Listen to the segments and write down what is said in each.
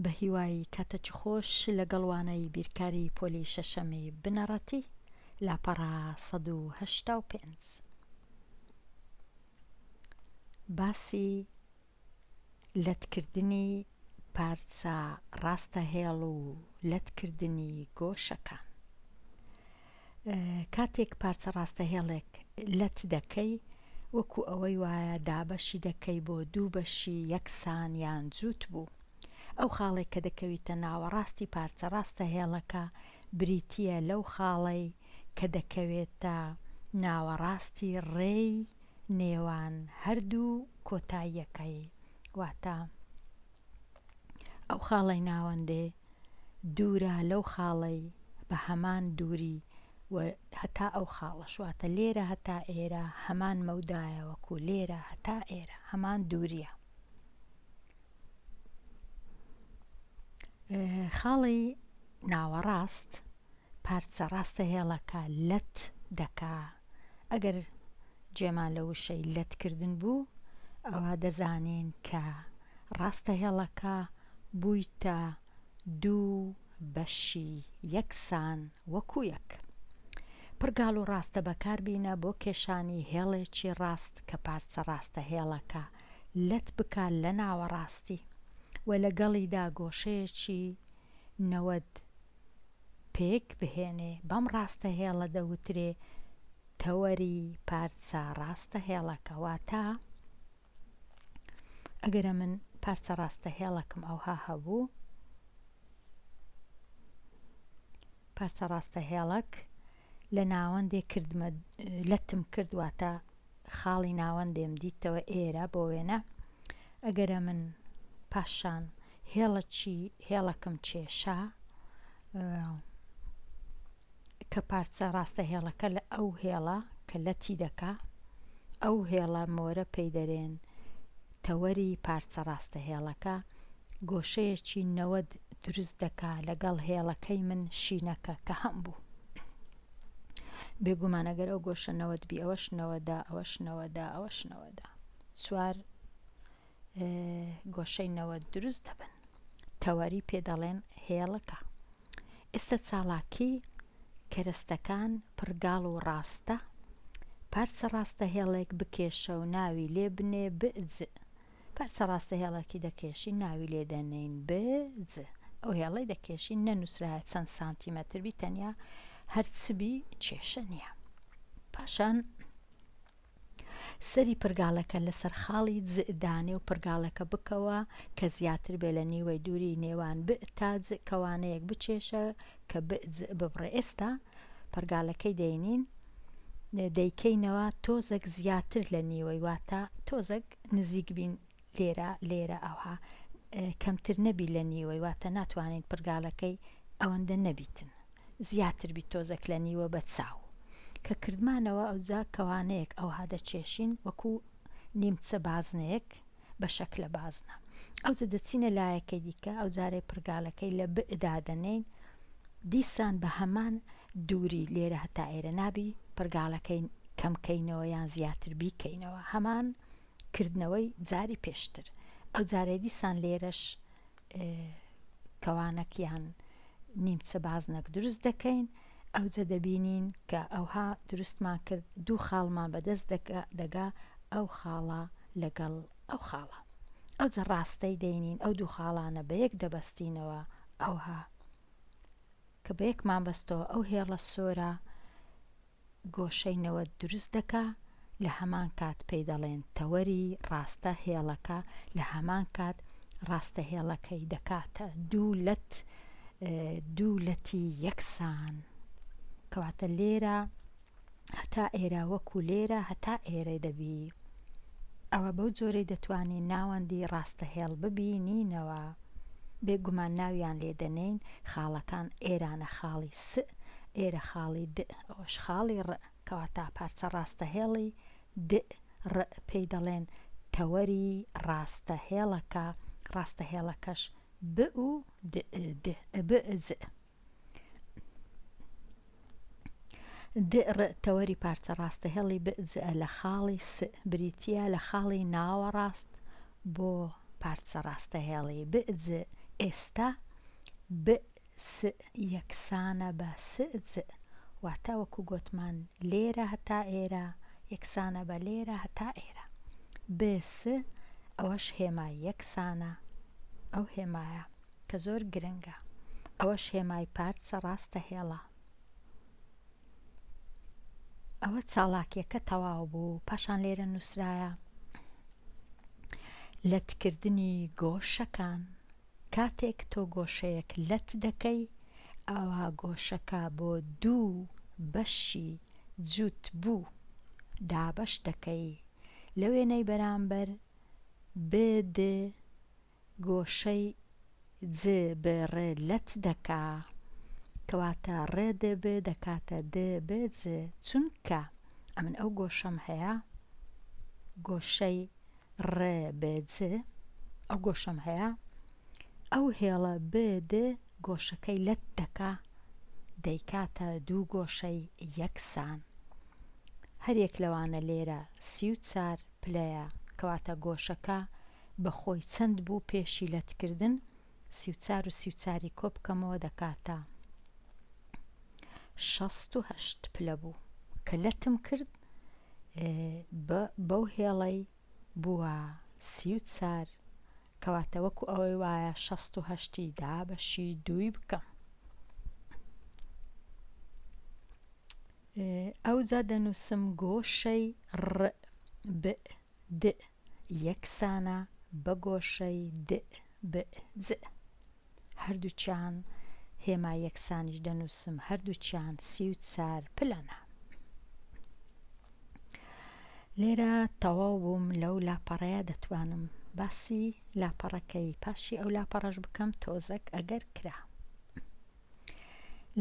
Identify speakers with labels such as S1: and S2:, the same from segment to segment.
S1: بەهیوای کاتەکی خۆش لەگەڵ وانەی بیرکاری پۆلی شەشەمی بنەڕەتی لاپەڕە سەد و هەشتا و پێنج باسی لەتکردنی پارچە ڕاستە هێڵ و لەتکردنی گۆشەکان کاتێک پارچە ڕاستەهێڵێک لەت دەکەی وەکو ئەوەی وایە دابەشی دەکەی بۆ دوو بەشی یەکسان یان جووت بوو ئەو خاڵەی کە دەکەویتە ناوەڕاستی پارچە ڕاستەهێڵەکە بریتییە لەو خاڵەی کە دەکەوێتە ناوەڕاستی ڕێی نێوان هەردوو کۆتاییەکەی واتە ئەو خاڵەی ناوەندێ دوورە لەو خاڵەی بە هەمان دووری هەتا ئەو خاڵەشواتە لێرە هەتا ئێرە هەمان مەودایە وەکو لێرە هەتا ئێرە هەمان دووریە خاڵی ناوەڕاست پارچە ڕاستە هێڵەکە لەت دەکا ئەگەر جێمان لە وشەی لەت کردن بوو ئەوا دەزانین کە ڕاستە هێڵەکە بوویتە دوو بەشی یەکسان وەکو یەک پڕگاڵ و ڕاستە بەکار بینە بۆ کێشانی هێڵێکی ڕاست کە پارچە ڕاستە هێڵەکە لەت بکا لە ناوەڕاستی و لەگەڵیدا گۆشەیەکی نەوەد پێک بهێنێ، بەم ڕاستەهێڵە دەوترێ تەوەری پارچە ڕاستەهێڵەکە، واتە ئەگەر ئەمن پارچە ڕاستەهێڵەکم ئەوها هەبوو، پارچە ڕاستەهێڵەک لە ناوەندێ کردمە لەتم کرد واتە خاڵی ناوەندێم دیتەوە ئێرە بۆ وێنە ئەگەرە من پاشان هێڵە چی هێڵەکەم کێشا کە پارچە ڕاستە هێڵەکە لە ئەو هێڵە کە لەتی دەکا ئەو هێڵە مۆرە پێی دەرێن تەوەری پارچە ڕاستە هێڵەکە گۆشەیەکی نەوەد دروست دەکا لەگەڵ هێڵەکەی من شینەکە کە هەم بوو بێگومان ئەگەر ئەو گۆشە نەوەت بی ئەوەش نەوەدا ئەوەش نەوەدا ئەوەش نەوەدا چوار گۆشەی نەوە دروست دەبن تەوەری پێ دەڵێن هێڵەکە ئێستا چاڵاکی کەرەستەکان پڕگاڵ و ڕاستە پارچە ڕاستە هێڵێک بکێشە و ناوی لێ بنێ بئج پارچە ڕاستە هێڵێکی دەکێشین ناوی لێ دەنێین ب ج ئەو هێڵەی دەکێشین نەنووسرایە چەند سانتیمەتر بی تەنیا هەر چ بی کێشە نییە پاشان سەری پرگاڵەکە لەسەر خاڵی ج دانێ و پرگاڵەکە بکەوە کە زیاتر بێ لە نیوەی دووری نێوان ب تا ج کەوانەیەک بکێشە کە ب ج ببڕێ ئێستا پرگالەکەی دەینین دەیکەینەوە تۆزەک زیاتر لە نیوەی واتە تۆزەک نزیک بین لێرە لێرە ئەوها کەمتر نەبی لە نیوەی واتە ناتوانین پرگالەکەی ئەوەندە نەبیتن زیاتر بی تۆزەک لە نیوە بە چاو کە کردمانەوە ئەوجا کەوانەیەک ئەوها دەچێشین وەکو نیمچە بازنەیەک بە شەکلە بازنە ئەوجە دەچینە لایەکەی دیکە ئەو جارێ پرگالەکەی لە بئ دادەنین دیسان بە هەمان دووری لێرە هەتا ئێرە نابی پڕگاڵەکەی کەم کەینەوە یان زیاتر بیکەینەوە هەمان کردنەوەی جاری پێشتر ئەوجارەی دیسان لێرەش کەوانەک یان نیمچە بازنەک دروست دەکەین ئەوجە دەبینین کە ئەوها دروستمان کرد دوو خاڵمان بەدەست دەگا ئەو خاڵە لەگەڵ ئەو خاڵە ئەوجە ڕاستەی دەینین ئەو دوو خاڵانە بە یەک دەبەستینەوە ئەوها کە بە یەک مامبەستەوە ئەو هێڵە سۆرە گۆشەی نەوەد دروست دەکا لە هەمان کات پێی دەڵێن تەوەری ڕاستە هێڵەکە لە هەمان کات ڕاستە هێڵەکەی دەکاتە دوو لەت دوو لەتی یەکسان کەواتە لێرە هەتا ئێرە وەکو لێرە هەتا ئێرە دەبی ئەوە بەو جۆرەی دەتوانین ناوەندی ڕاستەهێڵ ببینینەوە بێ گومان ناویان لێ دەنێین خاڵەکان ئێرانە خاڵی س ئێرە خاڵی د ئەوەش خاڵی ڕ کەواتە پارچە ڕاستەهێڵی د ڕ پێی دەڵێن تەوەری ڕاستەهێڵەکە ڕاستەهێڵەکەش ب و د ب ز د ر تەوەری پارچە ڕاستەهێڵی ب ج لە خاڵی س بریتییە لە خاڵی ناوەڕاست بۆ پارچە ڕاستەهێڵی ب ج ئێستا ب س یەکسانە بە س ج واتە وەکو گۆتمان لێرە هەتا ئێرە یەکسانە بە لێرە هەتا ئێرە ب س ئەوەش هێما یەکسانە ئەو هێمایە کە زۆر گرنگە ئەوەش هێمای پارت سە ڕاستە هێڵە. ئەوە چاڵاکیەکە تەواو بوو پاشان لێرە نووسرایە لەتکردنی گۆشەکان کاتێک تۆ گۆشەیەک لەت دەکەی ئەوا گۆشەکە بۆ دوو بەشی جووت بوو دابەش دەکەی لە وێنەی بەرامبەر ب د گۆشەی ج ب ڕ لەت دەکا کەواتە ڕ د ب دەکاتە د ب ج چونکە ئەمن ئەو گۆشەم هەیە گۆشەی ڕ ب ج ئەو گۆشەم هەیە ئەو هێڵە ب د گۆشەکەی لەت دەکا دەیکاتە دوو گۆشەی یەکسان هەریەک لەوانە لێرە سی و چار پلەیە کەواتە گۆشەکە بە خۆی چەند بوو پێشی لەت کردن سی و چار و سی و چاری کۆ بکەمەوە دەکاتە شەست و هەشت پلە بوو کە لەتم کرد بەو هێڵەی بووە سی و چار کەواتە وەکو ئەوەی وایە شەست و هەشتی دا بەشی دووی بکەم ئەوجا دەنووسم گۆشەی ڕ ب دئ یەکسانە بە گۆشەی دئ بئ جئ. هەردووکیان هێما یەکسانیش دەنووسم، هەردووکیان سی و چار پلەنە. لێرە تەواو بووم لەو لاپەڕەیە دەتوانم باسی لاپەڕەکەی پاشی ئەو لاپەڕەش بکەم تۆزەک ئەگەر کرا.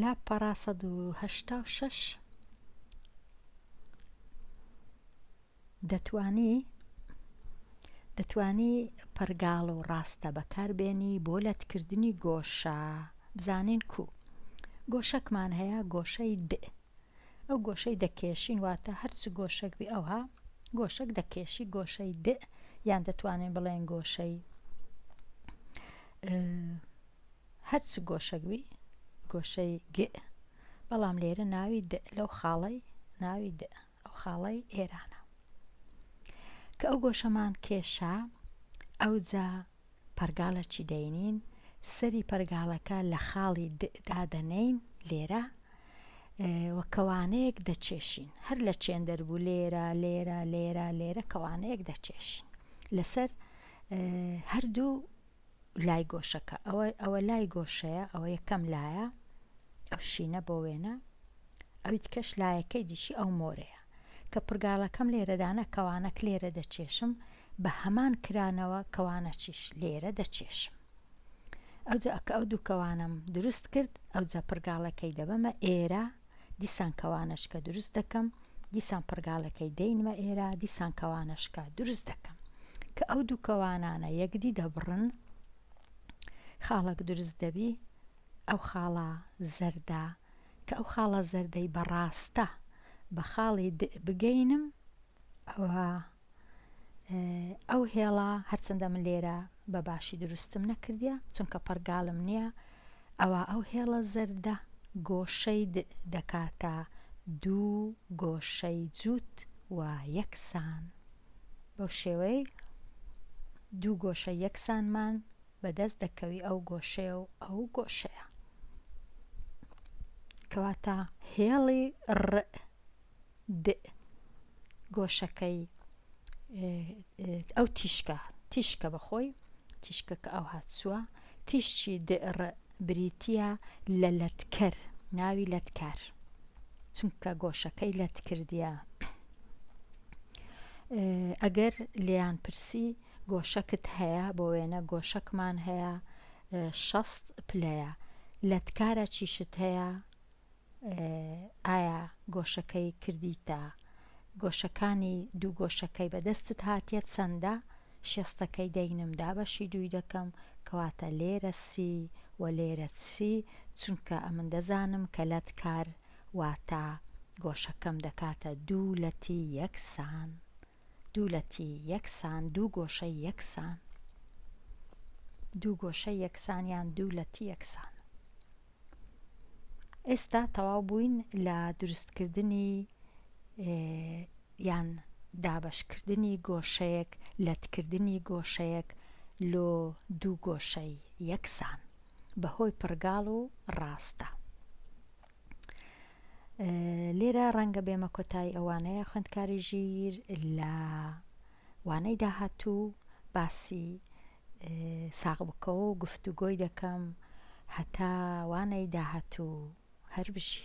S1: لاپەڕە سەد و هەشتا و شەش دەتوانی دەتوانی پەرگاڵ و ڕاستە بەکار بێنی بۆ لەت کردنی گۆشە بزانین کو گۆشەکمان هەیە گۆشەی د ئەو گۆشەی دەکێشین واتە هەرچ گۆشەک بێ ئەوها گۆشەک دەکێشی گۆشەی د یان دەتوانین بڵێن گۆشەی هەرچ گۆشەک بی گۆشەی گ بەڵام لێرە ناوی د لەو خاڵەی ناوی د ئەو خاڵەی ئێرانە کە ئەو گۆشەمان کێشا ئەوجا پەرگالەکی دەینین سەری پەرگالەکە لە خاڵی د دادەنێین لێرە و کەوانەیەک دەچێشین هەر لە چێن دەربوو لێرە لێرە لێرە لێرە کەوانەیەک دەچێشین لەسەر هەردوو لای گۆشەکە ئەوە ئەوە لای گۆشەیە ئەوە یەکەم لایە ئەو شینە بۆ وێنە ئەوی تکەش لایەکەی دیشی ئەو مۆرەیە کە پرگاڵەکەم لێرەدانە کەوانەک لێرە دەچێشم بە هەمان کرانەوە کەوانە چیش لێرە دەچێشم ئەوجا کە ئەو دووکەوانم دروست کرد ئەوجا پرگاڵەکەی دەبەمە ئێرە دیسان کەوانەشکە دروست دەکەم، دیسان پڕگاڵەکەی دەینمە ئێرە، دیسان کەوانەشکە دروست دەکەم. کە ئەو دوو کەوانانە یەکدی دەبڕن، خاڵەک دروست دەبی، ئەو خاڵە زەردە، کە ئەو خاڵە زەردەی بە ڕاستە بە خاڵی د بگەینم، ئەوا. ئەو هێڵە هەرچەندە من لێرە بە باشی دروستم نەکردە چونکە پڕگالم نییە ئەوە ئەو هێڵە زەردە گۆشەی دەکاتە دوو گۆشەی جووت و یەکسان بەو شێوەی دوو گۆشە یەکسانمان بەدەست دەکەوی ئەو گۆشەیە و ئەو گۆشەیە کەواتە هێڵی ڕئ د گۆشەکەی ئەو تیشکە تیشکە بەخۆی تیشکەکە ئەو هاتسووە تیشکی د ڕ بریتە لە لەتکەر ناوی لەتکار چونکە گۆشەکەی لەت کردە ئەگەر لێیان پرسی گۆشەکت هەیە بۆ وێنە گۆشەکمان هەیە شەست پلەیە لەتکارە چیشت هەیە ئایا گۆشەکەی کردیتە گۆشەکانی دوو گۆشەکەی بەدەستت هاتیە چەندە شێستەکەی دەینم دابەشی دووی دەکەم کەواتە لێرە سی وە لێرە سی چونکە ئەمن دەزانم کە لەت کار واتە گۆشەکەم دەکاتە دوو لەتی یەکسان. دوو لەتی یەکسان دوو گۆشەی یەکسان دوو گۆشەی یەکسان یان دوو لەتی یەکسان ئێستا تەواو بووین لە دروستکردنی یان دابەشکردنی گۆشەیەک لەتکردنی گۆشەیەک لۆ دوو گۆشەی یەکسان بەهۆی پڕگاڵ و ڕاستە لێرە ڕەنگە بێمە کۆتایی ئەوانەیە خوێندکاری ژیر لە وانەی داهاتوو باسی ساغ بکەوە و گفتوگۆی دەکەم هەتا وانەی داهاتوو هەر بژی